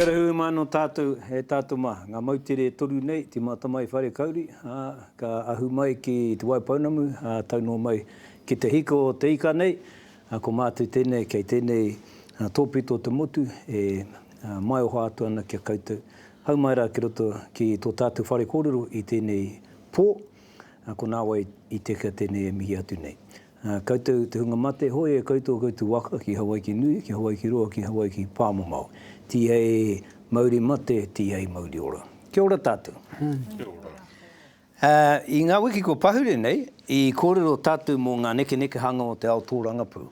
Kia ora hui mai no tatou e tatou ma, nga moutere e toru nei, te Matamai Whare Kauri, a, ka ahu mai ki Te Waipounamu, a, tau no mai ki te hiko o te ika nei, a, ko matou tenei kei tenei topito o te motu e maioha atu ana ki a koutou, hau mai ra ki roto ki to tatou whare korero i tenei po. Ko nāwai i tekea tēnei e mihi atu nei. Koutou te hunga mate, hoi e koutou koutou waka ki Hawaiki nui, ki Hawaiki roa, ki Hawaiki pāmamao. Tihei mauri mate, tihei mauri ora. Kia ora tātou. Kia ora. I ngā wiki kua pahure nei, i kōrero tātou mō ngā nekenekehanga o te ao tōrangapū.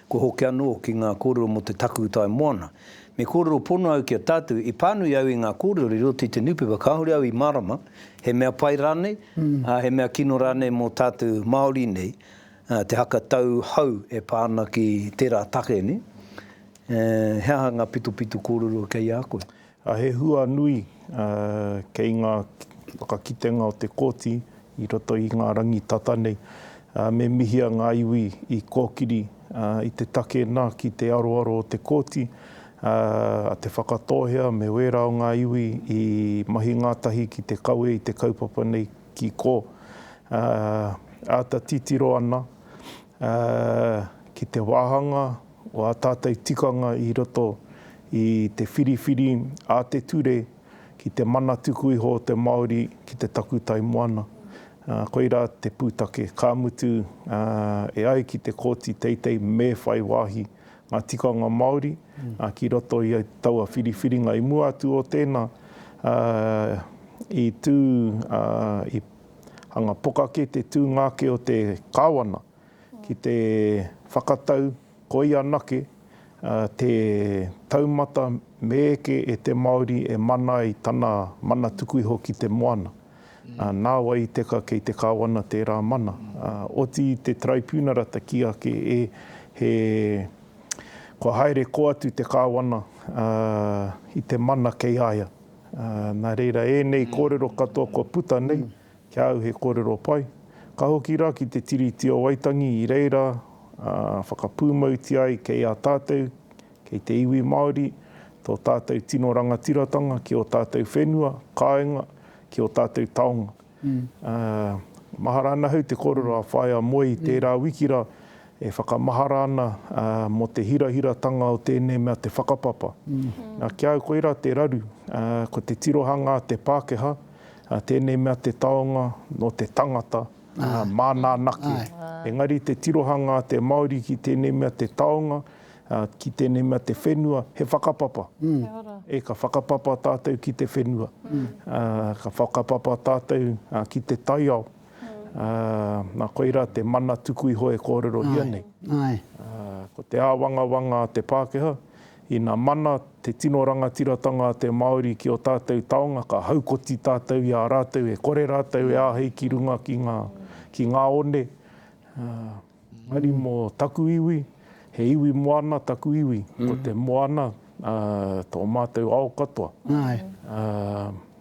Kua hoki anō ki ngā kōrero mō te takutai moana. Me kōrero pono au ki a tātou, i pānui au i ngā kōrero i roto i te niupepa, kāore au i mārama, he mea pai rānei, ā, he mea kino rānei mō tātou Māori nei, te haka tau hou e pā ana ki tērā take nei, he aha ngā pitopito kōrero kei a koe? He hua nui kei ngā whakakitenga o te Kōti i roto i ngā rangi tata nei. Me mihia ngā iwi i kōkiri i te take nā ki te aroaro o te Kōti a Te Whakatōhea me wērā o ngā iwi i mahi ngātahi ki te kawe i te kaupapa nei ki kō. Āta titiro ana ki te wāhanga o ā tātou tikanga i roto i te whiriwhiri a te ture Ki te mana tuku iho o te Māori ki te takutai moana. Koirā te pūtake, ka mutu e ai ki te Kōti Teitei me whai wāhi ngā tikanga Māori ki roto i taua whiriwhiringa. I mua atu o tēnā, i tū, i hanga poka ake te tūnga ake o te Kāwana ki te whakatau, Koi anake te taumata me eke e te Māori e mana ai tana mana tuku iho ki te moana. Nā wai i teka kei te Kāwana tērā mana. Oti i te Taraipiunara te kī ake e, he, kua haere koa atu te Kāwana i te mana kei a ia. Nā reira ēnei kōrero katoa kua puta nei, Ki a au he kōrero pai. Ka hoki rā ki te Tiriti o Waitangi i reira ā whakapūmautia ai kei a tātou, kei te iwi Māori, tō tātou tino rangatiratanga ki ō tātou whenua, kāenga, ki ō tātou taonga. Ā, mahara ana ahau te kōrero a Whaea Moe i tērā wiki rā e whakamahara ana mō te hirahiratanga o tēnei mea te whakapapa. Nā, ki a au koirā te raru, ko te tirohanga a te Pākehā, Ā, tēnei mea te taonga nō te tangata, ā, māna anake. Engari te tirohanga a te Māori ki tēnei mea te taonga, ā, ki tēnei mea te whenua, he whakapapa. E, ka whakapapa tātou ki te whenua. Ā, ka whakapapa tātou ki te taiao. Ā, nā, koirā te mana tuku iho e kōrerohia nei. Ā, ko te āwangawanga a te Pākehā, Ina mana te tino rangatiratanga a te Māori ki ō tātou taonga, ka haukoti tātou i a rātou e kore rātou e āhei ki runga ki ngā, ki ngā one. Engari mō taku iwi, he iwi moana taku iwi, ko te moana tō mātou ao katoa.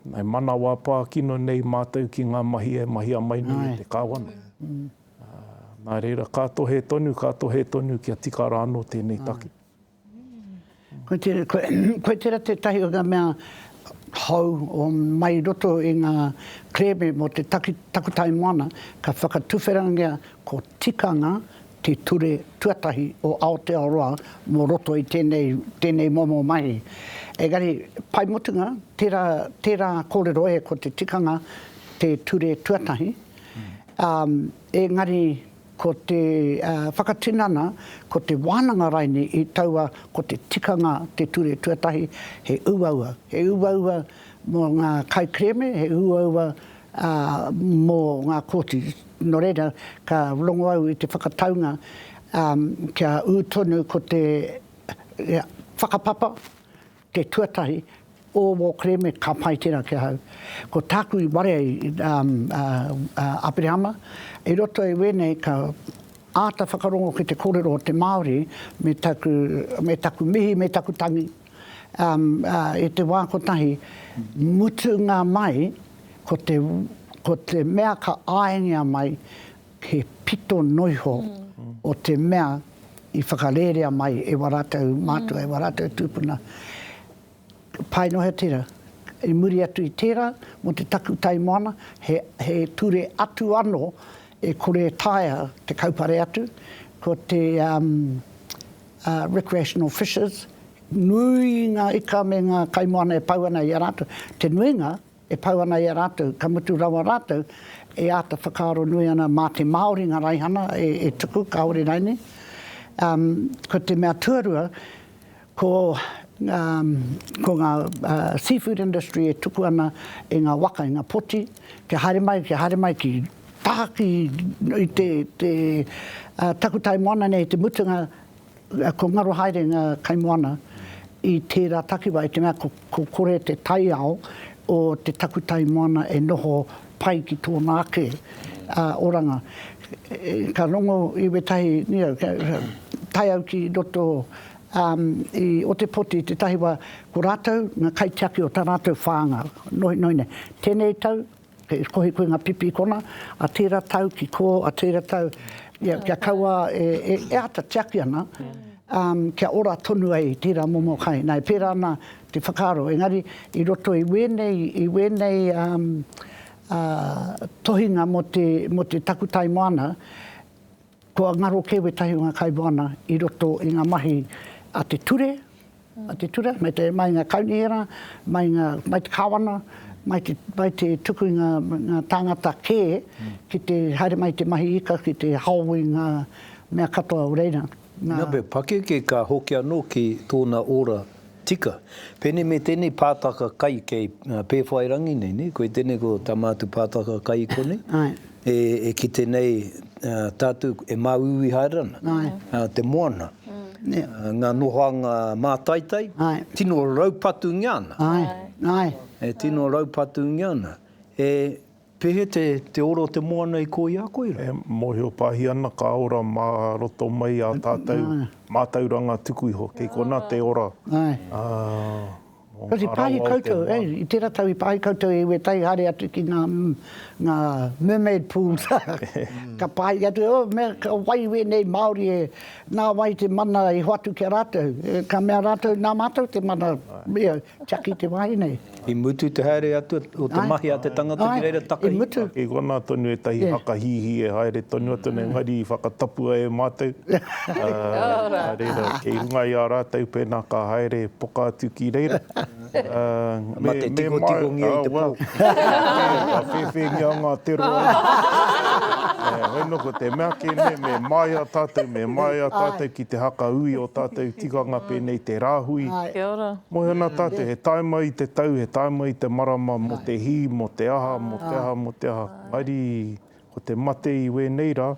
E manawa pā kino nei mātou ki ngā mahi e mahia mai nei e te Kāwana. Nā reira, ka tohe tonu, ka tohe tonu kia tika rā anō tēnei take. Ko tērā tētahi o ngā mea hou o mai i roto i ngā kerēme mō te takutai moana ka whakatuwherangia ko Tikanga te ture tuatahi o Aotearoa mō roto i tēnei momo mahi. Engari, pai mutunga tērā kōrero e ko te tikanga te ture tuatahi, engari, Ko te whakatinana, ko te wānanga raine i taua ko te tikanga te ture tuatahi, he uaua. He uaua mō ngā kaikerēme, he uaua mō ngā kōti. Nō reira, ka rongo au i te whakataunga kia ū tonu ko te whakapapa, Te tuatahi, o wō kereme ka pai tērā ki ahau. Ko tāku i warea i Aperehama, i roto i wēnei ka āta whakarongo ki te kōrero o te Māori me taku, me taku mihi, me taku tangi. I te wā kotahi, mutunga mai, ko te, ko te mea ka āengia mai, He pito noiho o te mea i whakarērea mai e wā rātou mātua, e wā rātou tūpuna. Paenohea tērā. I muri atu i tērā, mō te takutai moana, he, he ture atu anō e kore e taea te kaupare atu, ko te um, uh, recreational fishers, nui ngā ika me ngā kaimoana e pau ana i a rātou. Te nuinga, e pau ana i a rātou, ka mutu rawa rātou e āta whakaaro nui ana mā te Māori ngā raihana e tuku kāore rainei. Ko te mea tuarua, ko ngā seafood industry e tuku ana i ngā waka, i ngā poti, kia haere mai, kia haere mai ki tahaki i te takutai moana nei i te mutunga, Ko ngaro haere nga kaimoana i tera takiwa i te mea ko kore te taiao o te takutai moana e noho pai ki tona ake oranga. Ka rongo i wetahi taiau ki roto i Otepoti te tahi wa ko ratou nga kaitiaki o ta ratou whanga nohinohi nei. Tenei tau He kohi koe nga pipi kona, a tera tau ki ko, a tera tau kia kaua e ata tiaki ana, kia ora tonu ai tera momo kai. Na e pera ana te whakaaro, engari i roto i wenei, i wenei tohinga mo te takutai moana, Kua ngaro kē wētahi o ngā kaimoana i roto i ngā mahi a te ture, a te ture, mai te, mai ngā kaunihera, mai ngā, mai te kāwana, mai te, mai te tuku i ngā, ngā tāngata kē ki te haere mai i te mahi ika ki te hao i ngā mea katoa o reira. Nā. Nā whai pakeke ka hoki anō ki tōna ora Tika. Pēnei me tēnei pātaka kai kei Pēwhairangi nei, nē? Koe tēnei ko tā mātou pātaka kai konei. Āe. E, e kite nei tātou e māuiui haere ana. Āe. Te moana. Nē. Ngā nohoanga mātaitai. Āe. Tino raupatūngia ana. Āe. Āe. E tino raupatūngia ana. E. Pehe te, te ora o te moana i koi a koe ra? E mohio pahi ana ka ora ma roto mai a tatou matauranga tuku iho, kei kona te ora a mo nga rawa o te moana. I tera tau i pahi koutou e iwi e tai haere atu ki nga, nga mermaid pools, ka pahi atu, oh me ka wai wenei Maori e, na wai te mana i hoatu ki a ratou, ka mea ratou na matou te mana, ia. Tiaki te wahine. I mutu te haere atu o te mahi a te tangata ki reira takahi. Ae, i mutu. I konā tonu ētahi haka hīhī e haere tonu atu nei, engari i whakatapua e mātou. Nā reira, kei runga i a rātou pēnā ka haere poka atu ki reira. Me mate tikotikongia i te pō. Ka whēwhēngia ngā te roa nei. Hoi nō, ko te mea kē nei, me māia tātou, me māia tātou ki te haka ui o tātou tikanga pēnei te rāhui. Kia ora. Moe ana tā te, he tae mai i te tau, he tae mai i te marama, mō te hī, mō te aha, mō te aha, mō te aha. Mairi, ko te mate i wēnei rā,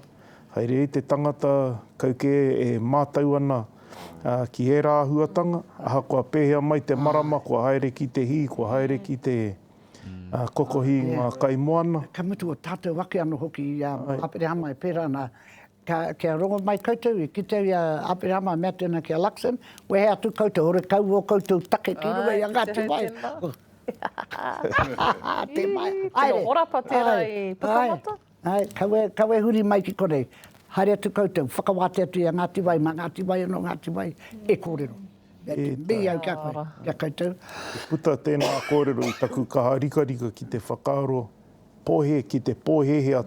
haere i te tangata, kau kē e mātau ana ki ērā āhuatanga, ahakoa pēhea mai te marama, kua haere ki te hī, kua haere ki te kokohi i ngā kaimoana. Ka mutu o tātou ake anō hoki i a Aperehama e pērā ana, Ka, kia rongo mai koutou, i kite au i a Aperahama a mea tēnā ki a Luxon, Wehe atu koutou, horekau ō koutou take ki runga i a Ngāti Wai. Tē mai. Ii, tino horapa tērā i Pukamata. Āe, kaua, kaua e huri mai ki konei. Haere atu koutou, whakawātea atu i a Ngāti Wai, mā Ngāti Wai anō, Ngāti Wai e kōrero. Mea te mihi au ki a koe, ki a koutou. Puta tēnā kōrero i taku kaha rikarika ki te whakaaro Pohe ki te pohehe a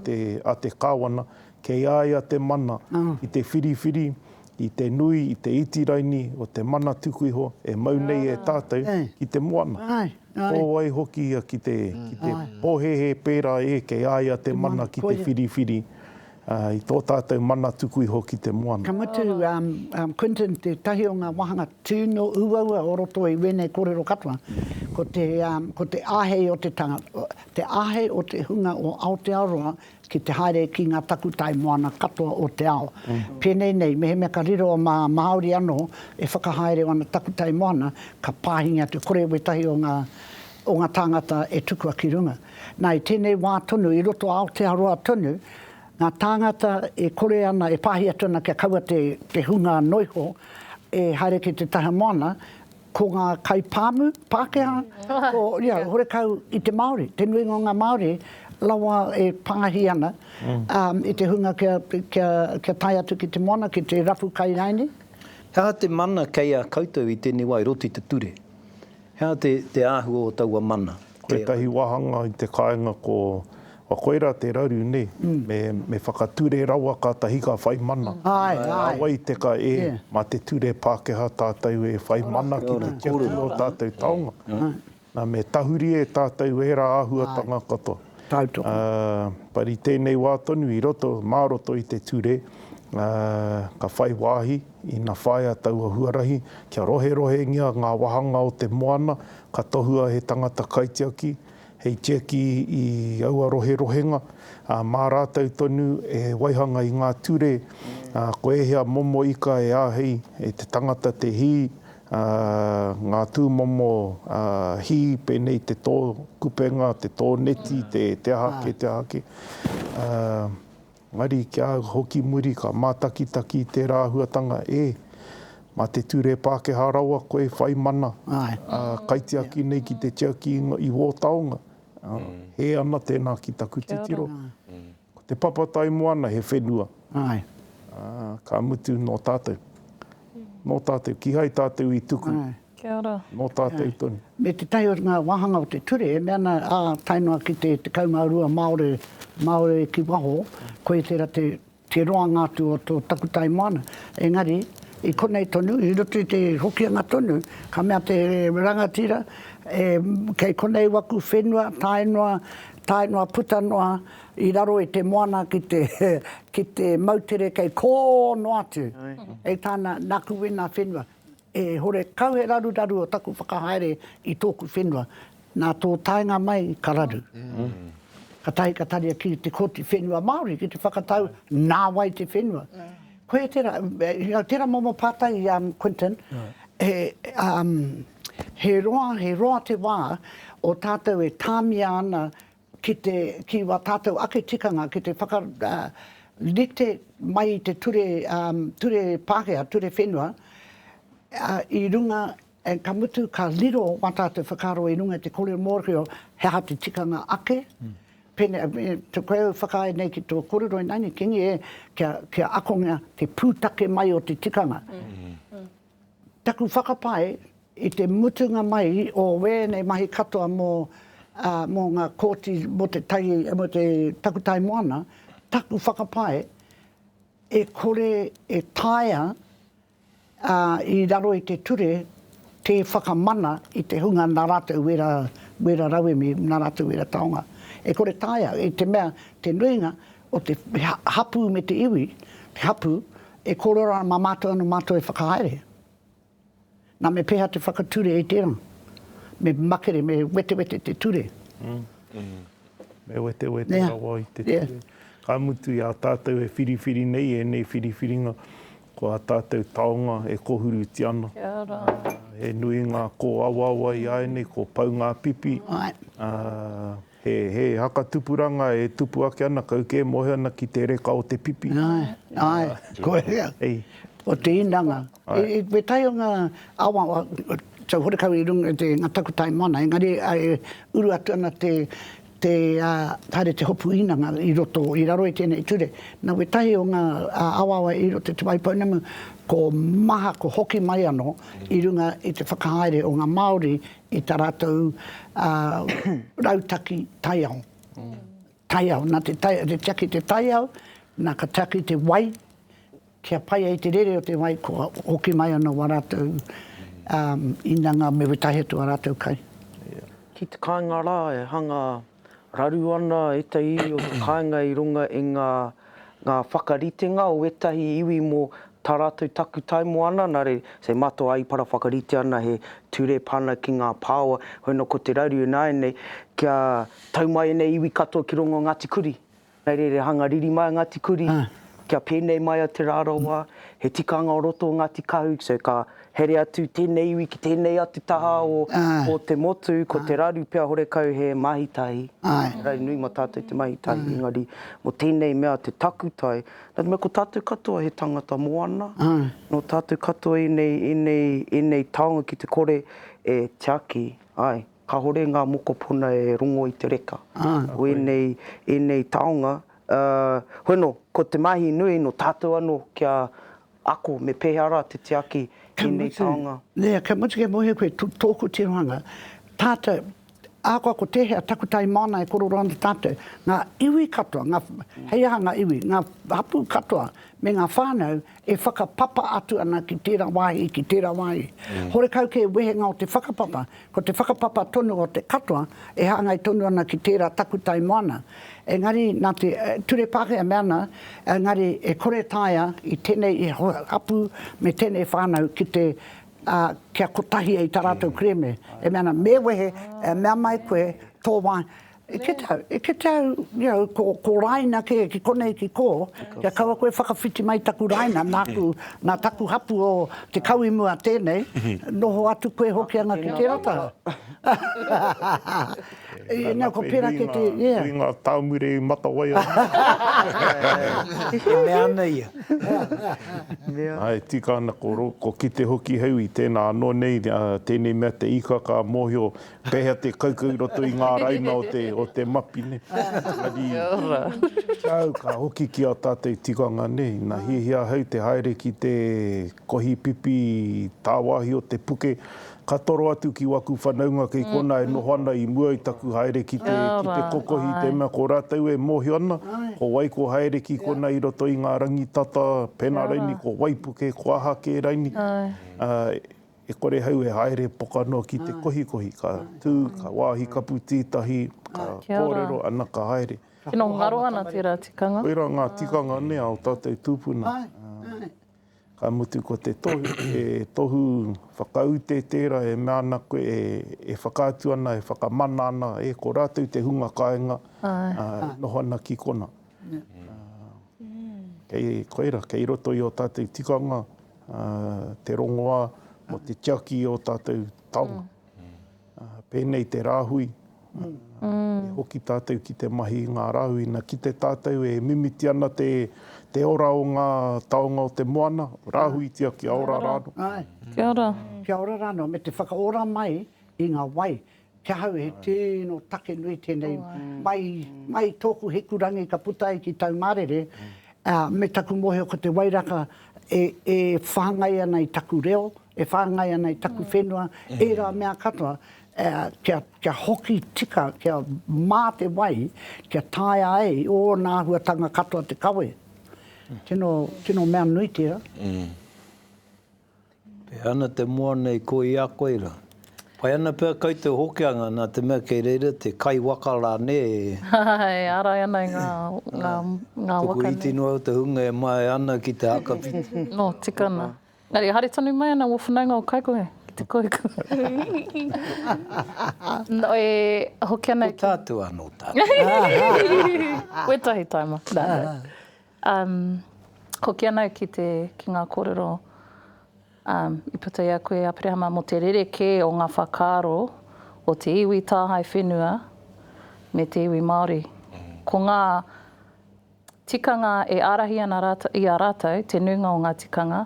te Kawana, kei a ia te mana i te whiriwhiri i te nui, i te iti raini o te mana tuku iho e mau nei e tātou ki te moana. Ko wai hoki ia ki te pohehe pērā e kei a ia te mana ki te whiriwhiri Ā, i tō tātou mana tuku iho ki te moana. Ka mutu, um, Quentin, tētahi o ngā wāhanga tino uaua o roto i wēnei kōrero katoa, ko te, um, ko te āhei o te tangata, te āhei o te hunga o Aotearoa ki te haere ki ngā takutai moana katoa o te ao. Pēnei nei, mehemea ka riro mā Māori anō e whakahaere ana takutai moana, ka pāhingia te kore wētahi o ngā, o ngā tāngata e tukua ki runga. Nā, i tēnei wā tonu, i roto a Aotearoa tonu, ngā tāngata e kore ana, e pāhi atu ana kia kaua te, te hunga noa iho e haere ki te taha moana, ko ngā kaipāmu Pākehā, ko, ia, horekau i te Māori, te nuinga o ngā Māori, rawa e pāhi ana i te hunga kia, kia, kia tae atu ki te moana, ki te rapu kai rāinī. He aha te mana kei a koutou i tēnei wā, i roto i te ture? He aha te, te āhua o taua mana? Tētahi wāhanga i te kāinga ko, kua koirā te raru, nē, me, me whakature rawa kātahi ka whai mana. Āe, āe. Nā wai te ka, ē, mā te ture Pākehā tātou e whai mana ki te tiaki i ō tātou taonga. Nā, me tahuri e tātou ērā āhuatanga katoa. Tautoko. But i tēnei wā tonu, i roto, mā roto i te ture, ka whai wāhi. Ina whāia taua huarahi, kia roherohengia ngā wāhanga o te moana, ka tohua he tangata kaitiaki hei tiaki i aua roherohenga, ā, mā rātou tonu e waihanga i ngā ture, ā, ko ēhea momo ika e āhei e te tangata te hī, ā, ngā tūmomo, ā, hī, pēnei te tō kupenga, te tō neti, te aha ake, te aha ake, ā. Engari kia hoki muri ka mātakitaki i tērā āhuatanga ē, mā te ture Pākehā rawa koe i whai mana, ā, kaitiaki nei ki te tiaki i wō taonga, ā, hē ana tēnā ki taku titiro. Ko te Papataimoana he whenua, ā, ka mutu nō tātou, nō tātou, kīhai tātou i tuku. Kia ora. Nō tātou tonu. Me tētahi o ngā wāhanga o te ture e mea ana, ā, tae noa ki te 12 Māore, Māori ki waho, koia tērā te, te roanga atu o tō takutai moana. Engari, i konei tonu, i roto i te Hokianga tonu, ka mea te rangatira, e, kei konei waku whenua, tae noa, tae noa puta noa i raro i te moana ki te, ki te moutere kei kō noa atu, hei tāna, nāku wēnā whenua. E hore kau he raruraru o taku whakahaere i tōku whenua, nā tō taenga mai ka raru. Ka tahi ka taria ki te Kōti Whenua Māori ki te whakatau nā wai te whenua. Koia tērā, tērā momo pātai i a Quinton, he roa, he roa te wā o tātou e tāmia ana ki te, ki wā tātou ake tikanga ki te whaka, rite mai i te ture, ture Pākehā, ture whenua, i runga, ka mutu ka riro wā tātou whakaaro i runga i te kōrero mōhio, he aha te tikanga ake, pēnei, pēnei, koe au whakaae nei ki tō kōrero ināiane, kīngi e, kia, kia akongia te pūtake mai o te tikanga. Taku whakapae, i te mutunga mai o wēnei mahi katoa mō mō ngā kōti mō te tai mō te takutai moana, taku whakapae, e kore e taea i raro i te ture te whakamana i te hunga nā rātou wera wera rauemi, nā rātou wera taonga. E kore taea, i te mea te nuinga o te hapū me te iwi, te hapū, e kōrero ana mā mātou anō mātou e whakahaere. Nā, me pēhea te whakature i tērā? Me makere, me wetewete te ture. Me wetewete yeah. rawa i te yeah. ture. Ka mutu i a tātou e whiriwhiri nei, e nei whiriwhiringa, ko a tātou taonga e kohuru ti ana. Uh, e nui ngā kō awawa i aenei, ko pau ngā pipi. Right. Uh, He, he haka tupuranga e tupu ake ana, kau kē, moe ana ki te reka o te pipi. Āe, āe, kua hea, ko te inanga. I te tae o ngā awa, tau horekau i runga i te, ngā takutai moana, engari e uru atu ana te, te, haere te hopu inanga i roto, i raro i tēnei ture. Nā wētahi o ngā awaawa i roto i te wai pounamu, ko maha, ko hoki mai anō i runga i te whakahaere o ngā Māori i tā rātou rautaki taiao. Taiao, nā te tiaki te taiao, nā ka tiaki te wai, kia pai ai te rere o te wai, kua hoki mai ana wā rātou inanga me wetahi atu ā rātou kai. Ki te kāinga rā e hanga. Raru ana ētahi iwi o te kāinga i runga i ngā ngā whakaritenga o ētahi iwi mō tā rātou takutai mō ana nare, say, mātou āipara whakarite ana he ture pana ki ngā pāoa, hoi anō ko te raru ināianei kia tau mai ēnei iwi katoa ki rongo o Ngāti Kuri. Hei reira, hanga riri mai a Ngāti Kuri, kia pēnei mai a Te Rarawa, he tikanga o roto o Ngāti Kahu, so ka here atu tēnei iwi ki tēnei atu taha o te motu, ko te raru pea horekau he mahi tahi, engari nui ma tātou te mahi tahi, engari mo tēnei mea te takutai, nā te mea ko tātou katoa he tangata moana, nō tātou katoa ēnei, ēnei, ēnei taonga ki te kore e tiaki, āe. Kāore ngā mokopuna e rongo i te reka o ēnei, ēnei taonga, ā, hoi anō, ko te mahi nui nō tātou anō kia ako me pēhea rā te tiaki i ēnei taonga. Ka mutu, nē, ka mutu kia mōhio koe tōku tirohanga, tātou, ahakoa ko tēhea takutai māna e korero ana tātou, ngā iwi katoa, ngā, hei aha ngā iwi, ngā hapū katoa me ngā whānau, e whakapapa atu ana ki tērā wāhi, ki tērā wāhi. Horekau kē wehenga o te whakapapa, ko te whakapapa tonu o te katoa e hāngai tonu ana ki tērā takutai moana. Engari, nā te Ture Pākehā e mea ana, engari e kore e taea i tēnei hapū me tēnei whānau ki te, ā, kia kotahia i tā rātou kerēme. E mea ana, me wehe, e mea mai koe tō wāhi, E kite au, e kite au, you know, ko, ko Raina kē, ki konei ki kō, kia kaua koe whakawhiti mai taku Raina, nāku, nā taku hapū o Te Kauimua tēnei, noho atu koe Hokianga ki tērā taha. Nā, ko pērā kē te, yeah. Nui ngā tāmure i matawai ai. E mea ana ia. Āe, tika ana ko, ko kite hoki hei ui, tēnā anō nei, tēnei mea te ika ka mōhio Pehea te kaukau i roto i nga raina o te, o te mapi ne. Kia ora. Au ka hoki ki a tatou tikanga ne, na hiahia ahau te haere ki te kohi pipi tawahi o te puke, ka toro atu ki waku whanaunga kei kona e noho ana i mua i taku haere ki te, ki te kokohi i te mea ko ratou e mohio ana, ko wai ko haere ki kona i roto i nga rangi tata, pena raini ko waipuke, ko aha ke raini, E kore hau e haere pokanoa ki te kohikohi, ka tū, ka wāhi kapu tī tahi, ka kōrero, ana ka haere. Tino ngaro ana tērā tikanga. Koirā ngā tikanga nē a o tātou tūpuna. Ka mutu ko te tohu, he tohu whakaute tērā e mea ana koe e whakaatu ana, e whakamana ana e ko rātou te hunga kāinga e noho ana ki kona. Kei koira, kei roto i ō tātou tikanga te rongoā mō te tiaki i ō tātou taonga. Pēnei te rāhui, e hoki tātou ki te mahi i ngā rāhui. Ina kite tātou e mimiti ana te ora o ngā taonga o te moana, rāhuitia kia ora rānō. Kia ora. Kia ora rānō, me te whakaora mai i ngā wai Ki ahau he tino take nui tēnei, mai, mai tōku hikurangi ka puta ai ki tau mārere, ā, me taku mōhio ko te wairaka e, e whāngai ana i taku reo, e whāngai ana i taku whenua, ērā mea katoa, ā, kia, kia hoki tika, kia mā te wai, kia taea ai ōna āhuatanga katoa te kawe. Tino, tino mea nui tērā. E ana te moa nei ko i a koe ra. Pai ana pea kai te Hokianga na te mea kei reira te kai waka ra ne? Hahaha e arai ana i nga nga nga waka nei. Tuku iti noa au te hunga e mae ana ki te hakawhiti. No tikana. Engari e haere tonu mai ana wo whanaunga o Kaikohe ki te koiku. No e hoki ana. Ko tatu ano tatu. Wetahi taima. Umm hoki ana au ki te ki nga korero umm i puta i a koe Aperehama mo te rerekē o nga whakaaro o te iwi tāhae whenua me te iwi Maori. Ko nga tikanga e arahi ana ratou i a ratou te nuinga o nga tikanga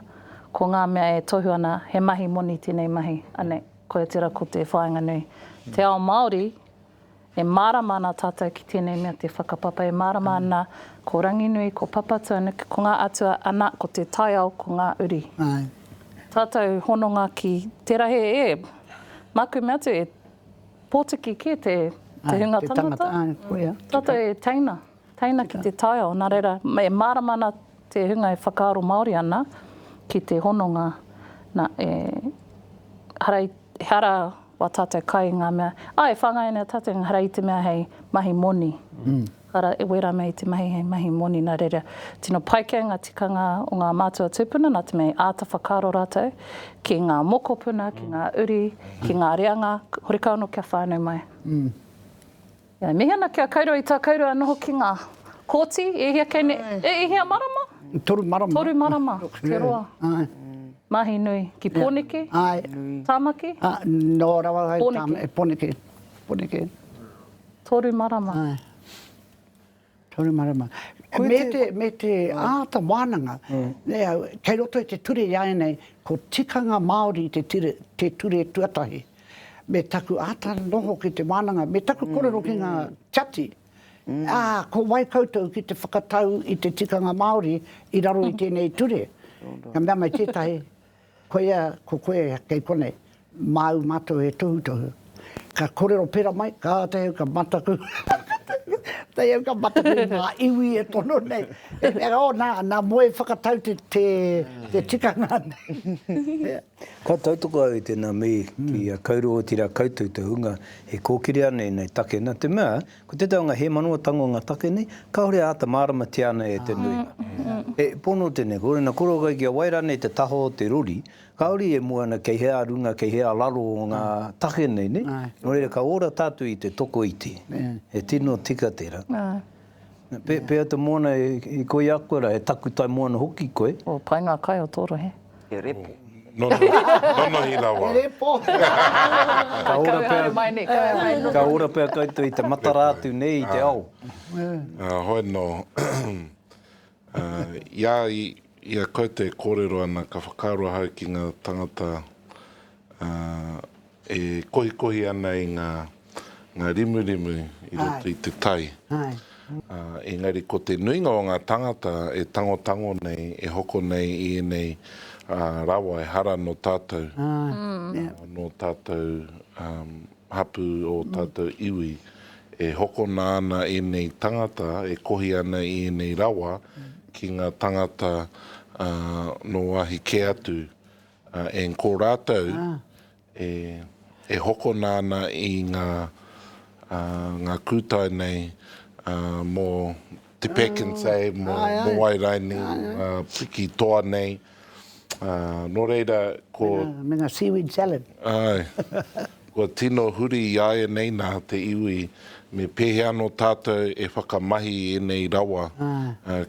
ko nga mea e tohu ana he mahi moni tenei mahi anei koia tera ko te whainga nui. Te ao Maori E mārama ana tātou ki tēnei mea te whakapapa, e mārama ana ko Ranginui, ko Papatūānuku, ko ngā atua, ana, ko te taiao, ko ngā uri. Tātou hononga ki te rahi e, mā kume atu, e pōtiki kē te hunga tangata, tātou e teina. Teina ki te taiao, nā reira, e mārama ana te hunga e whakaaro Māori ana ki te hononga, nā, e, ehara i, ehara wā tātou kai i ngā mea, ā, e whāngai ana tātou ehara i te mea hei mahi moni, ehara, e wērā mea i te mahi hei mahi moni, nā reira, tino pai kē ngā tikanga o ngā mātua tūpuna nā te mea i āta whakaaro rātou ki ngā mokopuna, ki ngā uri, ki ngā reanga, horekau anō kia whānau mai. E mihi ana ki a Kairo i tā Kairo noho ki ngā Kōti, e hia kei nei, e hia marama? Toru marama. Toru marama, te roa. Mahi nui, ki Pōneke? Tāmaki? Nō rawa ai, Pōneke. Pōneke. Toru marama. Toru marama. Me te āta wānanga, kei roto i te ture i a ēnei, ko Tikanga Māori te ture tuatahi. Me taku āta noho ki te wānanga, me taku kōrero ki ngā tiati, ā, ko wai koutou ki te whakatau i te tikanga Māori i raro i tēnei ture? Ka mea mai tētahi, Koia ko koe kei konei, māu mātou e tohutohu. Ka korero pera mai, ka āta au ka mataku, āta au ka mataku i ngā iwi e tono nei. E mea rā, oh, nā, nā Moe whakatau te, te, te tikanga nei. Ka tautoko au i tēnā, me kī, a Kauru, otirā koutou te hunga e kōkiri ana ēnei take, nā te mea, Ko tētahi o ngā hēmano o tango ngā take nei, kāore a āta māramatia ana e te nuinga. He pono tēnei, ko ēna koro kai kia wai rānei te taha o te rori, kāore e mua ana kei hea runga, kei hea raro o ngā take nei, nē? Nō reira, ka ora tātou i te tokoiti, he tino tika tērā. Pēhea te moana, e koia koe rā, he takutai moana hoki koe. Pai ngā kai o tō rohe. He repo. No, no, nonohi rawa. He repo. Ka ora pea. Kauhare mai nei, kauhare mai nonohi. Ka ora pea koutou i te matara atu nei i te ao. Hoi no. Ia, ia koutou e korero ana, ka whakaaro ahau ki nga tangata, E kohikohi ana i nga nga rimurimu i roto i te tai. Engari ko te nuinga o nga tangata e tangotango nei, e hoko nei i enei rawa ehara no tatou, no tatou hapu o tatou iwi. E hokona ana enei tangata e kohi ana i enei rawa ki nga tangata no wahi ke atu. And ko rātou e hokona ana i ngā ngā kūtai nei mō Te Pekensay, mō Moai Raini, piki toa nei, nō reira ko. Me ngā seaweed salad. Āe. Kua tino huri i āianei nā te iwi me pēhea anō tātou e whakamahi i ēnei rawa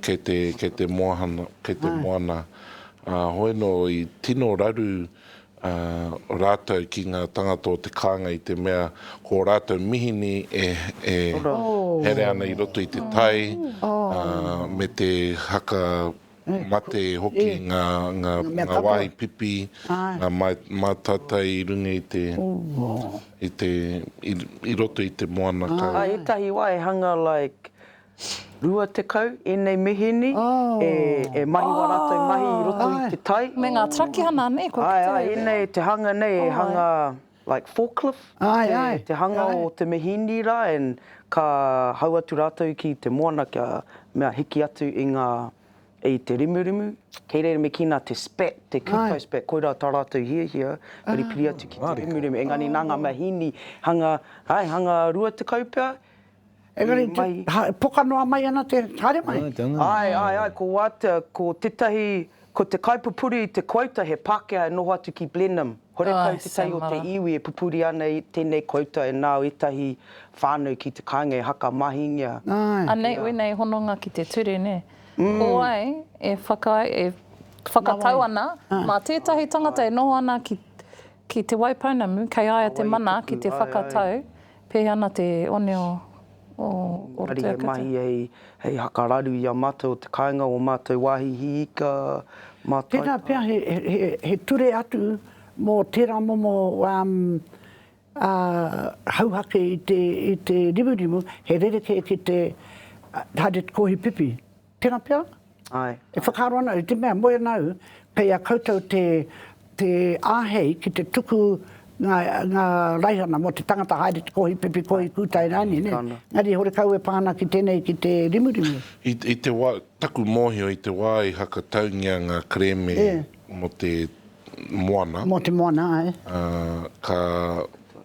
kei te, kei te moana, kei te moana. Ā, hoi nō, i tino raru rātou ki ngā tangata o te kānga i te mea ko ō rātou mihini e, e here ana i roto i te tai me te haka, mate hoki ngā wāhi pipi, ngā mātātai i runga i te, i te, i roto i te moana kau. Ā, ētahi wā e hanga like rua tekau ēnei mihini e mahi wā rātou mahi i roto i te tai. Me ngā trakihana nē kua kitea. Āe, āe, ēnei te hanga nei e hanga. like forklift Ae, ae, te hanga ae. o te mihini ra and ka hau atu ratou ki te moana kia mea hiki atu i nga i te rimurimu kei reira me kina te spat te kupo spat koira ta ratou hiahia piripiri atu ki te rimurimu engani na nga mahini hanga ae hanga rua tekau pea Engari, poka noa mai ana te, haere mai. Ae, ae, ae, ko Watt, ko tetahi, ko te kaipupuri i te kouta he Pakea e noho atu ki Blenheim. Horekau tetahi o te iwi e pupuri ana i tenei kouta e nao etahi whanau ki te kainga e haka mahingia. Anei wenei hononga ki te ture, ne? Ko wai e whakatau ana, ma tetahi tangata e noho ana ki Te Waipounamu, kei aia te mana ki te whakatau Pei ana te one o Orotu Engari hei mahi hei hei hakararu i a matou o te kainga o matou wahi hi ika ma tai Tera pea he he ture atu mo tera momo a hauhake i te i te rimurimu he rerekē ki te haere kohi pipi. Tena pea? Ae. E whakaaro ana, i te mea, moe nau, kei a koutou te, te ahei ki te tuku nga, nga raihana mo te tangata haere te kohi pipi, kohi kutai rani, ne? Engari horekau e pa ana ki tenei, ki te rimurimu. I, i te wa, taku mohio, i te wa i hakataungia nga kereme mo te moana. Mo te moana, ae. Ka,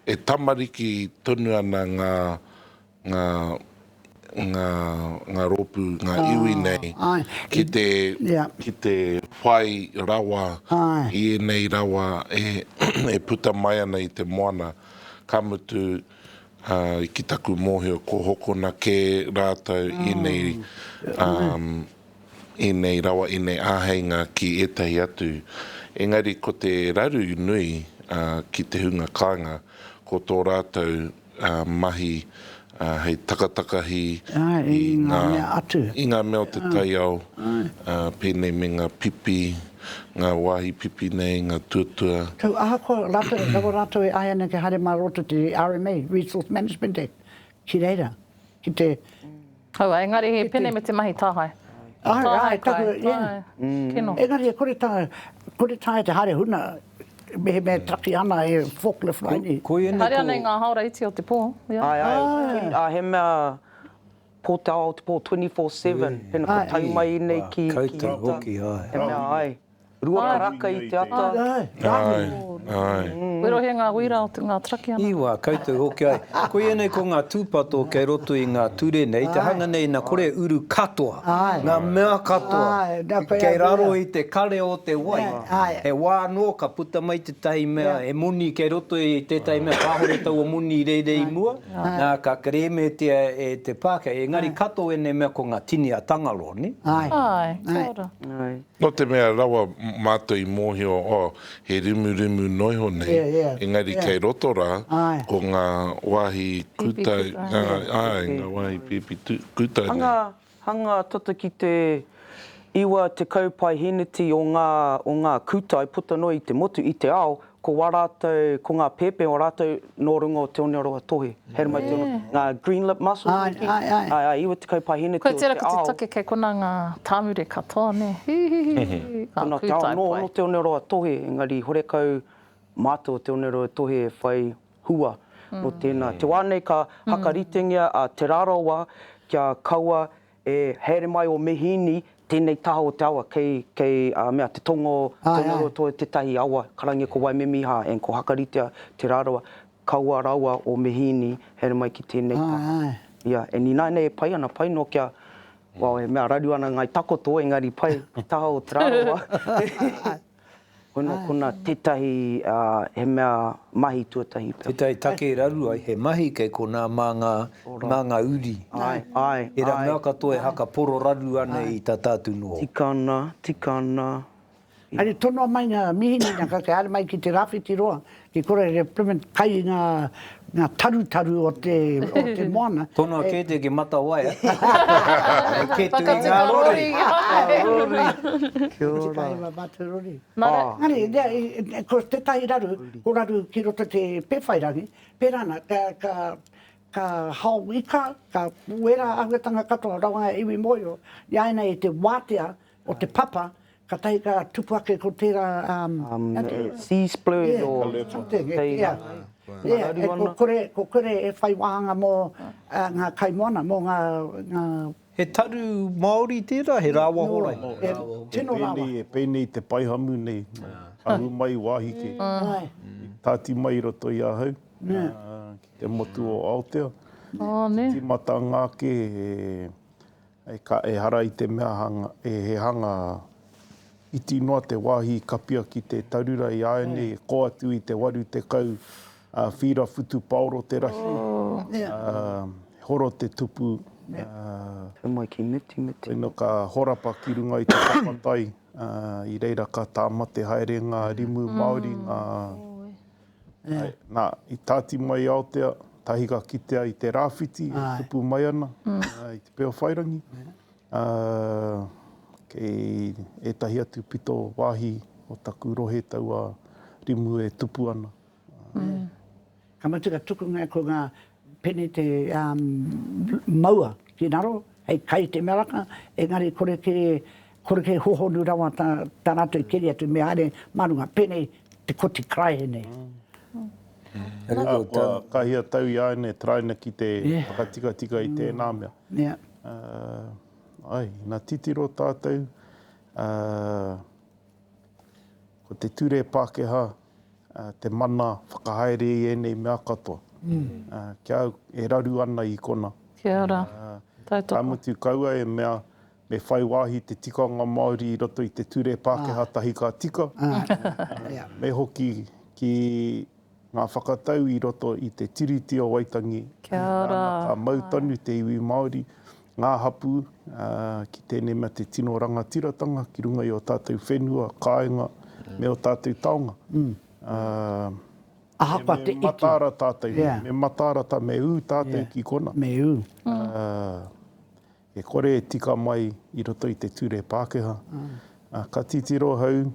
e tamariki tonu ana nga, ngā, ngā, ngā rōpū, ngā iwi nei, ki te, ki te whai rawa i ēnei rawa e, e puta mai ana i te moana, ka mutu, ā, ki taku mōhio, kua hokona kē rātou i ēnei, ā, ēnei rawa, ēnei āheinga ki ētahi atu. Engari ko te raru nui, ā, ki te hunga kāinga, ko tō rātou. mahi hei takatakahi i ngā mea atu, i ngā mea o te taiao, pēnei me ngā pipi, ngā wāhi pipi nei, ngā tuatua. Tau ahakoa rātou, rawa rātou e āia nei kia haere mā roto te RMA, Resource Management Act, ki reira, ki te Aua, engari he pene me te mahi tāhae. Tāhae kai, tāhae, kino. Engari e kore tāhae, kore tāhae te haere huna, mehemea e taki ana he forklift mai nei. Haere ana i ngā haora iti o te pō. Ae, ae, he mea pō te ao o te pō, 24-7, pena kua tau mai i nei ki. Koutou hoki, ae. He mea, ae. Rua karaka i te ata. Rahi. We rohe nga hui ra o nga traki ana. Iwa, koutou hoki ai. Koia nei ko nga tupato kei roto i nga ture nei, te hanga nei na kore uru katoa, nga mea katoa kei raro i te kare o te wai. He wa no ka puta mai tetahi mea, he moni kei roto i tetahi mea, kahore taua moni i reira i mua, na ka keremetia e te pakeha. Engari kato enei mea ko nga tini a Tangaro, ni? Ae, kia ora. Nō te mea rawa mātou i mōhio, oh, he rimurimu noa iho nei, engari kei roto rā, ko ngā wāhi kūtai, āe, ngā wāhi pīpī kūtai nei. Hanga tata ki te iwa tekau paeheneti o ngā kūtai puta noa i te motu, i te ao, Ko wā rātou, ko ngā pēpē o rātou nō runga o Te Oneoroa Tohe. He ara mai te ono, ngā green lip mussels hoki. Ai, ai, ai. Ai, ai, iwa te kaupāhine teo te ao. Koe tērā ko te take kei konā ngā tāmure katoa, nē, hihihi, ngā kūtai pai. Konā te ao nō, nō Te Oneoroa Tohe, engari horekau mātou o Te Oneoroa Tohe e whai hua nō tēnā. Te wā nei ka hakaritengia a Te Rarawa kia kaua E haere mai o Mehini tenei taha o te awa kei kei a mea te tonga o Tongarotoa tetahi awa karange ko Waimemiha and ko Hakaritea Te Rarawa kaua rawa o Mehini haere mai ki tenei taha ia and inaina e pai ana pai no kia well e mea raru ana ngai takoto engari pai ki taha o Te Rarawa. Hono kona tetahi he mea mahi tuatahi. Tetahi take e raru ai he mahi kei kona ma nga ma nga uri. Ai, ai, ai. Era mea katoa e haka poro raru ana i ta tatu noho. Tika ana, tika ana. Ari tonoa mai nga mihini na ka kare mai ki te rawhiti roa I kore he Plymouth kai i nga tarutaru o te moana. Tonoa kē te ki Matawaia. Kē tu i nga rori. Kia ora. Ki tahi wa mātou rori. Engari, ko tetahi raru, ko raru ki roto te Pewhairangi, pērā ana, ka hao ika, ka wera āhuatanga katoa, rawa nga iwi moio, i āianei te wātea o te papa, katahi ka tupu ake ko tērā sea splurge o tēina manaru ana. Ko kore e whai wāhanga mō ngā kaimoana, mō ngā. He taru Māori tērā, he rāwa horai? Tino rāwa. E pēnei te paihamu nei, ahu mai wāhi kē, tāti mai i roto i ahau, ki te motu o Aotea, tīmata ngā kē, E ka ehara i te mea hanga, e he hanga iti noa te wāhi i kapia ki te tarura i āianei e kō atu i te 80 whīra whutupaoro te rahi, he horo te tupu, koina ka horapa ki runga i te tapatai, i reira ka tāmate haere ngā rimu Māori, ngā. Āe, nā, i tāti mai i Aotea, tahi ka kitea i te rāwhiti e tupu mai ana i Te Peowhairangi, ā, kei ētahi atu pito wāhi o taku rohe taua rimu e tupu ana. Āe. Ka mutu ka tukungia ko ngā Pene te maua ki raro, hei kai te meraka, engari kore ke, kore ke hohonu rawa ta, ta ratou i keri atu, me haere ma runga. Pene te koti karaehe nei. Nga, kua kahia tau i aenei taraina ki te whakatikatika i tena mea. Yeah. Uh, ai, na titiro tatou, uh, ko te ture Pakeha, te mana whakahaere i ēnei mea katoa, ki a au e raru ana i kona. Kia ora, tautoko. Ka mutu kaua e mea me whai wāhi te tikanga Māori i roto i te ture Pākehā tahi ka tika, me hoki ki ngā whakatau i roto i te Tiriti o Waitangi, nāna ka mau tonu te iwi Māori Ngā hapū, ā, ki tēnei mea te tino rangatiratanga ki runga i ō tātou whenua, kāinga, me ō tātou taonga, ā, Ahakoa te iti. Me mataara tātou, me mataara tā, me ū tātou ki konā. Me ū. Ā, e kore e tika mai i roto i te ture Pākehā. Ā, ka titiro ahau.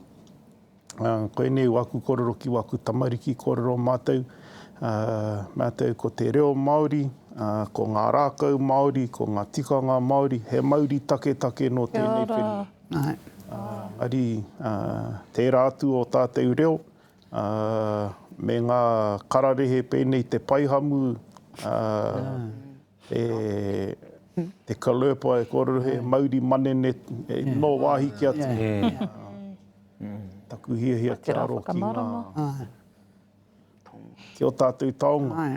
Koinei waku korero ki waku tamariki korero matou matou ko te reo Maori ko nga rakau Maori ko nga tikanga Maori he mauri taketake no tenei whenua engari tera atu o tatou reo me nga kararehe penei te paihamu E te Kalerpa e kōrero he mauri manene nō wāhi ki atu. Taku hiahia kia aro ki ngā, ki o tātou taonga.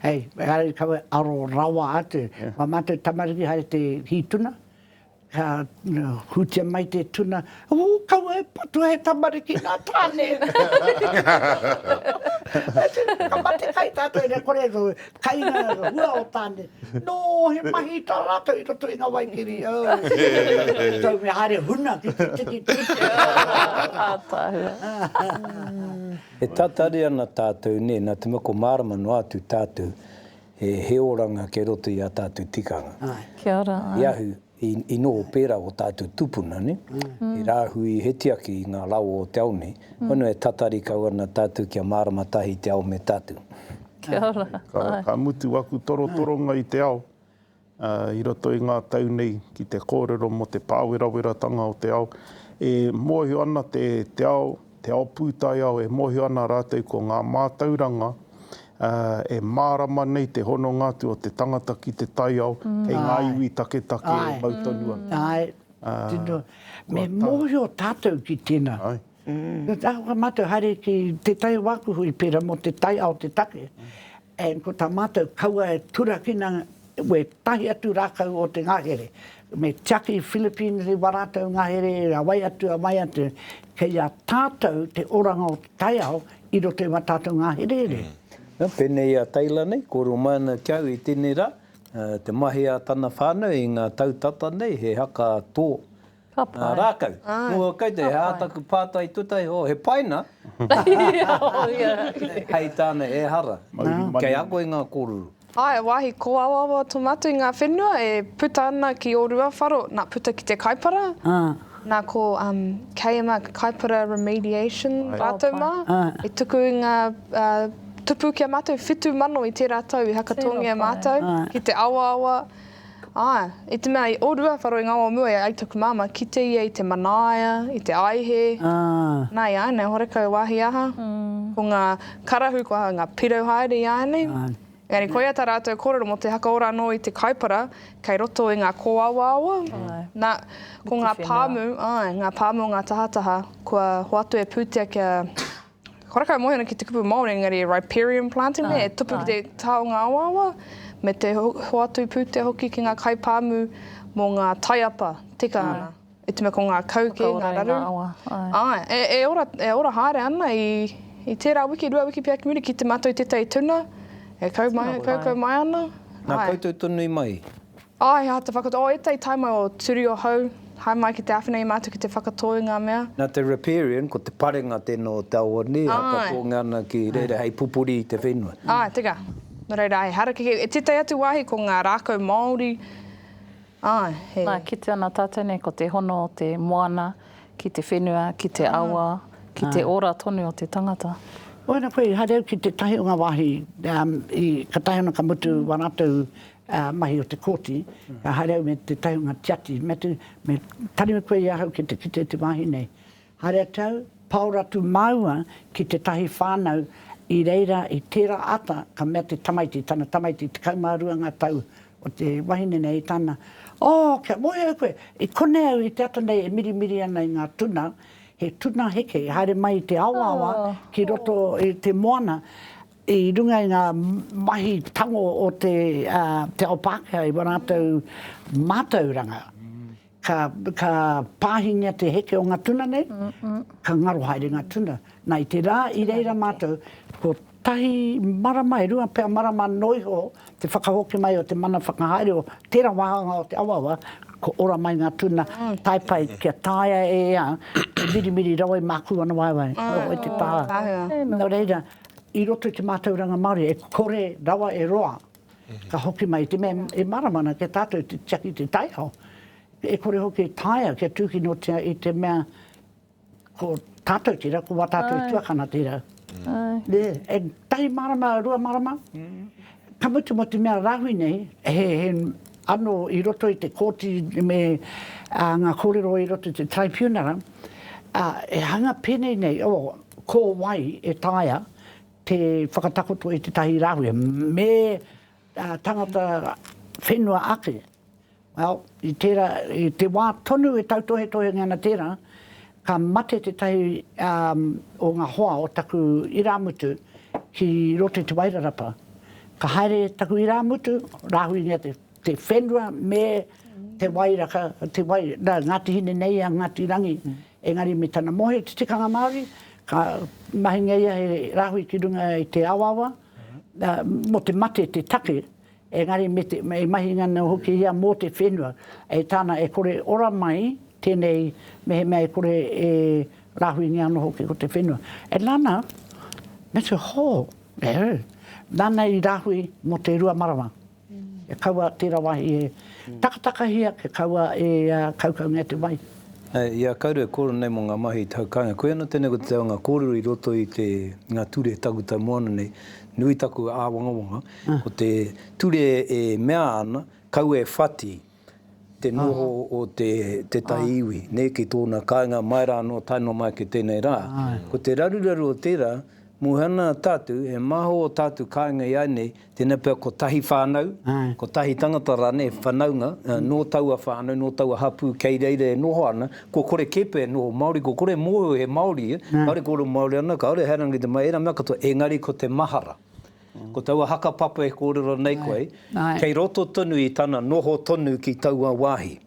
Hei, engari kaua aro rawa atu. Kua mate tamariki haere te hītuna. Ka hūtia mai te tuna, Ū, kaua e patua he tamariki nā Tāne! Ka mate kai tātou ina kore ko kainga hua o Tāne. Nō, he mahi tā rātou i roto i ngā waikiri. Tau me haere huna ki te tiki tūturu. Ātaahua. E tatari ana tātou, nē, nā te mea ko mārama noa atu tātou. he he oranga kei roto i a tātou tikanga. Kia ora, āe. I ahu, i, i noho pērā o tātou tupuna, nē? He rāhui, he tiaki i ngā rawa o te ao nei. Hono e tatari kau ana tātou kia mārama tahi te ao me tātou. Kia ora, āe. Ka, ka mutu aku torotoronga i te ao. I roto i ngā tau nei ki te kōrero mō te pāweraweratanga o te ao, e mōhio ana te ao, te ao pūtaiao, e mōhio ana rātou ko ngā mātauranga e mārama nei te hononga atu o te tangata ki te taiao kei ngā iwi taketake e mau tonu ana. Āe, tino, me mōhio tātou ki tēnā. Āe. Ko tā kua mātou haere ki tētahi wā aku hui pērā mō te taiao te take, and ko tā mātou kaua e turakina wētahi atu rākau o te ngahere. Me tiaki i Philippines i wā rātou ngahere, a wai atu, a wai atu. Kei a tātou te oranga o te taiao i roto i wā tātou ngāherehere. Pēnei i a Taylor nei, kōrero mai ana ki a au i tēnei rā, te mahi a tana whānau i ngā tau tata nei, he haka tō. Ka pai. Nā Rākau. Ko kei te hā taku pātai tuatahi, oh, he paina? Hei tāna, e hara. Kei ako i ngā kōruru. Ae, wāhi kōawaawa tō mātou i ngā whenua e puta ana ki ō rua wharo, nā, puta ki te Kaipara. Nā, ko KMR, Kaipara Remediation rātou mā, i tuku i ngā tupu ki a mātou, whitu mano i tērā tau i hakatōngia mātou ki te awaawa. Āe, i te mea i orua wharo i ngā wā o mua e ai taku māmā, kite ia i te manaia, i te aihe, nā iāinei, horekau wāhi aha, ko ngā karahu kua hau ngā pirau haere iāinei. Engari koia tā rātou kōrero mō te hakaora anō i te kaipara kei roto i ngā kōawaawa, nā, ko ngā pāmu, āe, ngā pāmu o ngā tahataha kua hoatu e pūtea kia. Kua rakau moe ana ki te kupu Māori, engari e riparian planting nei, e tupu ki te taonga awaawa, me te hoatu pūtea hoki ki ngā kaipāmu mō ngā taiapa tika ana. I te mea ko ngā kau kē, ngā raru. E ora, e ora haere ana i tērā wiki, rua wiki pea ki muri, kite mātou i tētahi tuna e kau mai, kaukau mai ana. Nā koutou tonu i mai? Āe, he aha te whakatō? Oh, ētahi taimai o Turi o Hau, hae mai ki te āwhina i mātou ki te whakatō i ngā mea. Nā te riparian, ko te parenga tēnā o te awa nei, haka tōnga ana ki reira hei pupuri i te whenua. Āe, teka. Nō reira, he harakeke, e tētahi atu wāhi ko ngā rākau Māori, āe, he. Nā, kite ana tātou nei ko te hono o te moana ki te whenua, ki te awa, ki te ora tonu o te tangata. Oira koe, haere au ki tētahi o ngā wāhi, i, katahi ona ka mutu wā rātou ā, mahi o te kōti, ka haere au me tētahi o ngā tiati, me te, me tanu koe i ahau ki te kite i te wāhi nei. Haere atu au, paora atu māua ki tētahi whānau i reira i tērā ata, ka mea te tamaiti, tana tamaiti, tekau mā rua ngā tau o te wahine nei, tana, Oh, kia moe au koe, i konei au i te ata nei e mirimiri ana i ngā tuna, he tuna heke, haere mai i te awaawa ki roto i te moana, I runga i ngā mahi tango o te ao Pākehā i wā rātou mātauranga, ka pāhingia te heke o ngā tuna nei, ka ngaro haere ngā tuna. Nā, i te rā i reira mātou, kotahi marama, e rua pea marama noa iho te whakahoki mai o te mana whakahaere o tērā wāhanga o te awaawa, kua ora mai ngā tuna, tae pai kia taea e ia te mirimiri rawa i mākū ana waewae. Noho i te taha. Nō reira, i roto i te mātauranga Māori, e kore rawa e roa, ka hoki mai, te mea e marama ana ki a tātou te tiaki i te taiao, e kore hoki e taea kia tūkinotia i te mea ko tātou tērā, ko wā tātou i tuakana tērā. E tahi marama, rua marama, ka mutu mō te mea rāhui nei, he anō i roto i te kōti me ngā kōrero i roto i te tribunara, e hanga pēnei nei, o, Ko wai e taea te whakatakoto i tētahi rāhui, me tangata whenua ake? Well, i tērā, i te wā tonu e tautohetohengia ana tērā, ka mate tētahi o ngā hoa o taku irāmutu ki roto i Te Wairarapa. Ka haere taku irāmutu, rāhuingia te. te whenua me te wairaka, te wai, nā, Ngāti Hine nei a Ngāti Rangi, engari me tana moe, te tikanga Māori, ka mahingia ia he rāhui ki runga i te awaawa, nā, mō te mate te take, engari me te, e mahingia ana hoki ia mō te whenua, e tāna e kore ora mai tēnei mehemea e kore e rāhuingia ana hoki ko te whenua. E nana, me te hō, e, nana i rāhui mō te rua marama. E kaua tera wahi e takatakahia, e kaua e kaukaungia te wai. I a Kauru e koro nei mo nga mahi i te hau kainga. Koia no tenei ko te taonga korero i roto i te nga ture takutai moana nei. Nui taku awangawanga ko te ture e mea ana kaua e whati te noho o te tētahi iwi, nē, ki tōna kāinga mai rā anō, tae noa mai ki tēnei rā. Ko te raruraru o tērā, mōhioana tātou, e māho ō tātou kāinga iāinei, tēnā pea kotahi whānau, kotahi tangata rānei, whanaunga, nō taua whānau, nō taua hapū kei reira e noho ana, kua kore kē pea e noho Māori, kua kore e mōhio he Māori ia, kāore kōrero Māori ana, kāore he rangatiratanga, ērā mea katoa, engari ko te mahara. Ko taua haka papa e kōrero nei koe, kei roto tonu i tana noho tonu ki taua wāhi.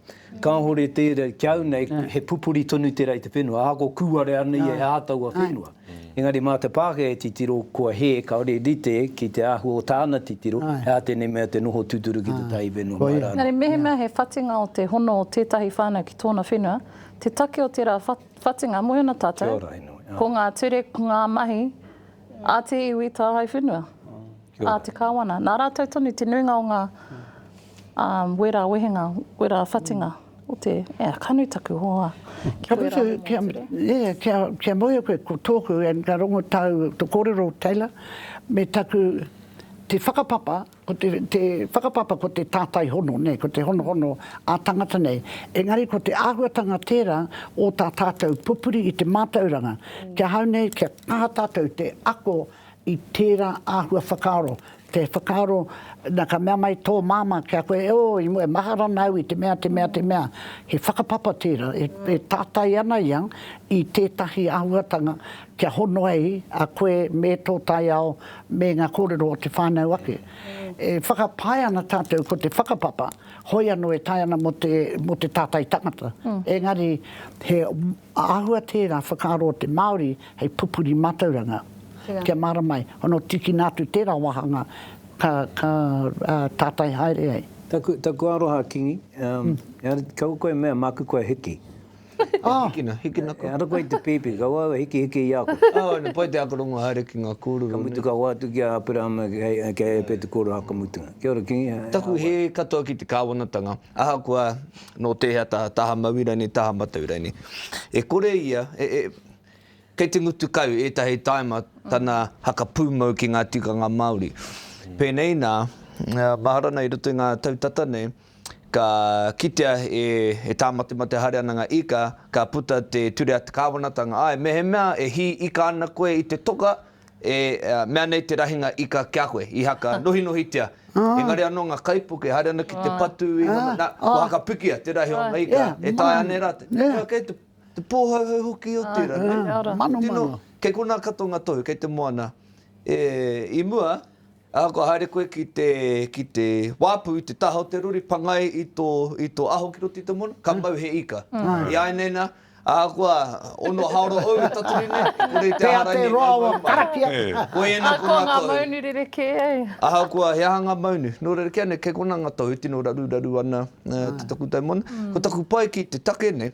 Kāore tērā, ki au nei, he pupuri tonu tērā i te whenua, ahakoa kūarea nei e ā taua whenua. Engari mā te Pākehā e titiro, kua hē, kāore e rite ki te āhua o tāna titiro, he aha tēnei mea te noho tūturu ki te Tāhi whenua mai rānei. Engari mehemea he whatinga o te hono o tētahi whānau ki tōna whenua, te take o tērā whatinga, moe ana tātou, ko ngā ture, ko ngā mahi, A te iwi tāhae whenua, a te Kāwana. Nā rātou tonu te nuinga o ngā wera wehenga, wera whatinga o te, e, ka nui taku hoa. Kia ora e Taylor. Kia ora, yeah, kia, kia moea koe ko tōku, and ka rongo tāu, tō kōrero Taylor, me taku, te whakapapa, Ko te, te whakapapa ko te tātai hono, nē, ko te honohono ā-tangata nei. Engari ko te āhuatanga tērā o tā tātou pupuri i te mātauranga. Ki ahau nei, kia kaha tātou te ako i tērā āhua whakaaro, te whakaaro, na, ka mea mai tō māmā ki a koe, e ō, i mua, e mahara ana au i te mea, te mea, te mea. He whakapapa tērā, e, e tātai ana ia i tētahi āhuatanga Kia hono ai a koe me tō taiao me ngā kōrero o te whānau ake. E whakapae ana tātou ko te whakapapa, hoi anō e tae ana mō te, mō te tātai tangata. Engari, he āhua tērā whakaaro o te Māori hei pupuri mātauranga. Kia mārama ai, hono tīkina atu tērā wāhanga ka, ka tātai haere ai. Taku, taku aroha, Kingi. Engari, kaua koe e mea, māku koe hiki. Ka hikina, hikina koe. He ara koe i te pēpi, ka wau e hikihiki i a koe. Āe, na pai te akarongo haere ki ngā kōrero nei. Ka mutu ka hoatu ki a Aperahama kei a Epete kōrero hakamutunga. Kia ora Kingi. Taku hē katoa ki te kāwanatanga, ahakoa nō tēhea taha, taha maui rānei, taha matau rānei. E kore ia, kei te ngutu kau ētahi taima tana hakapūmau ki ngā tikanga Māori. Pēnei nā, mahara nei i roto i ngā tau tata nei, ka kitea e tāmatemate haere ana ngā ika, ka puta te ture a te kāwanatanga, āe, mehemea e hī ika ana koe i te toka, e mea nei te rahinga ika ki a koe, i haka nohinohitia. Engari anō ngā kaipuke haere ana ki te patu i ngā mahi, nā, kua haka pikia te rahi o ngā ika, e taea nei rātou. Ā, kei te pōhauhau hoki o tērā, nē? Kei konā katoa ngā tohu, kei te moana. I mua, Ā, kua haere koe ki te, ki te wāpu i te taha o te rori, pangai i tō, i tō aho ki roto i te moana, ka mau he ika. I āineina, ahakoa, ono haora ou e tatari nei, e kore i te aha rangi ngā mau maunga. Koia nā ko ngā tohu. Ahakoa ngā maunu rerekē ai. Ahakoa he aha ngā maunu, nō reira kē anei, kei konā ngā tohu e tino raruraru ana te takutai moana. Ko taku pai ki te take nei,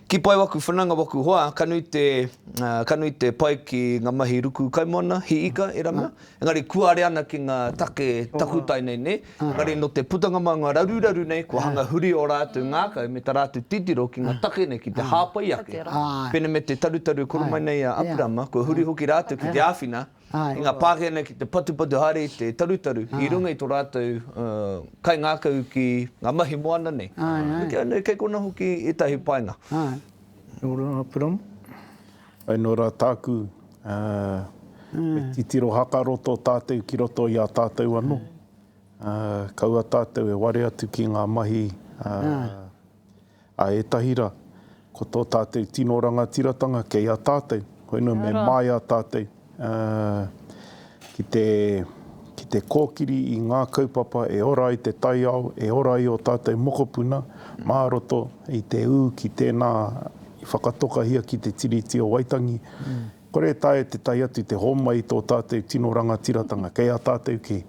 Ki pai waku whananga waku hoa ka nui te ka nui te pai ki nga mahi ruku kaimoana hi ika e ranga engari kuare ana ki nga take takutai nei ne engari no te putanga ma nga raruraru nei kua hanga huri o ratu ngakau me ta ratu titiro ki nga take nei ki te hapai ake pene me te tarutaru koro mai nei a Apirama kua huri hoki ratu ki te awhina i ngā pākehana ki te patupatu haere i te tarutaru i runga i tō rātou kaingākau ki ngā mahi moana nei. Nō kei konā hoki ētahi painga. Nō rā Piramu. Ai nō rā tāku e titiro hakaroto tātou ki roto i a tātou anō. Kaua tātou e ware atu ki ngā mahi Ā ētahi rā, ko tō tātou tino rangatiratanga kei a tātou, hoi nō me māia tātou ki te kōkiri i ngā kaupapa e ora ai te taiao, e ora ai ō tātou mokopuna mā roto i te ū ki tēnā i whakatokahia ki te Tiriti o Waitangi. Kore e taea te tae atu te hōmai i tō tātou tino rangatiratanga kei a tātou kē,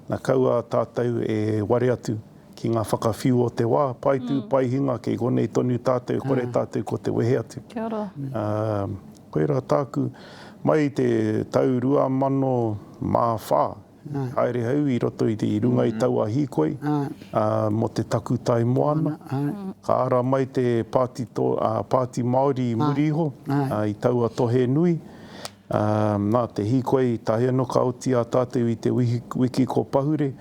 na kaua tātou e ware atu. Ki ngā whakawhiu o te wā, pae tū, pae hinga, kei konei tonu tātou e kore tātou ko te wehe atu. Kia ora. Ā, koirā tāku, mai i te tau 2004, i haere au i roto i runga i taua hīkoi, ā, mō te takutai moana, ka ara mai te pāti, ā, pāti Māori i muri iho, ā, i taua tohe nui. Ā, nā te hīkoi tahi anō ka oti a tātou i te wiki ko Pahure,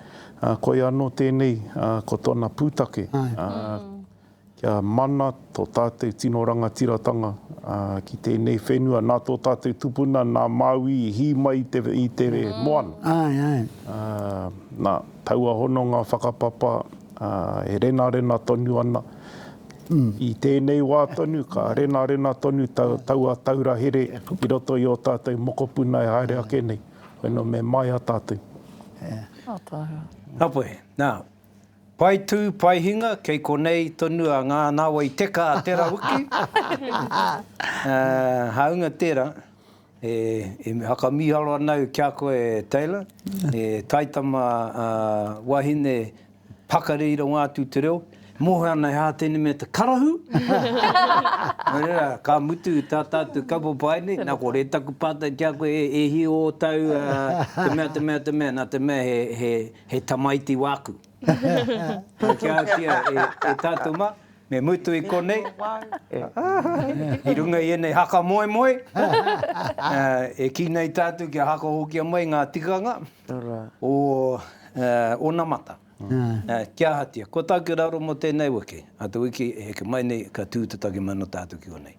ā, koia anō tēnei, ā, ko tōna pūtake, ā, kia mana tō tātou tino rangatiratanga, ā, ki tēnei whenua, nā tō tātou tupuna, nā Māui i hī mai i te, i te moana. Āe, āe. Ā, nā, taua hononga whakapapa. Ā, e renarena tonu ana. I tēnei wā tonu, ka renarena tonu taua taura here i roto i ō tātou mokopuna e haere ake nei. Koinā me māia tātou. Apai, nā, pae tū, pae hinga, kei konei tonu a Ngā Nāwai Teka a Te Rawiki. Hāunga tērā, E whakamīharo ana au ki a koe, Taylor, he taitama wahine pakari i rongo atu i te reo, moe ana he ātene me te karahu. Nō reira, ka mutu tā tātou kapopae nei, nā kore taku pātai ki a koe, e hī ō tāu te mea, te mea, te mea, nā te mea he tamaiti wāku. Ka kiatia e tātou mā, me mutu i konei, i runga i ēnei haka moemoe, e kī nei tātou kia hakahokia mai ngā tikanga o onamata, ki ahatia. Ko tāku raro mō tēnei wiki, ā, te wiki e heke mai nei, ka tū te take mai nō tātou ki konei.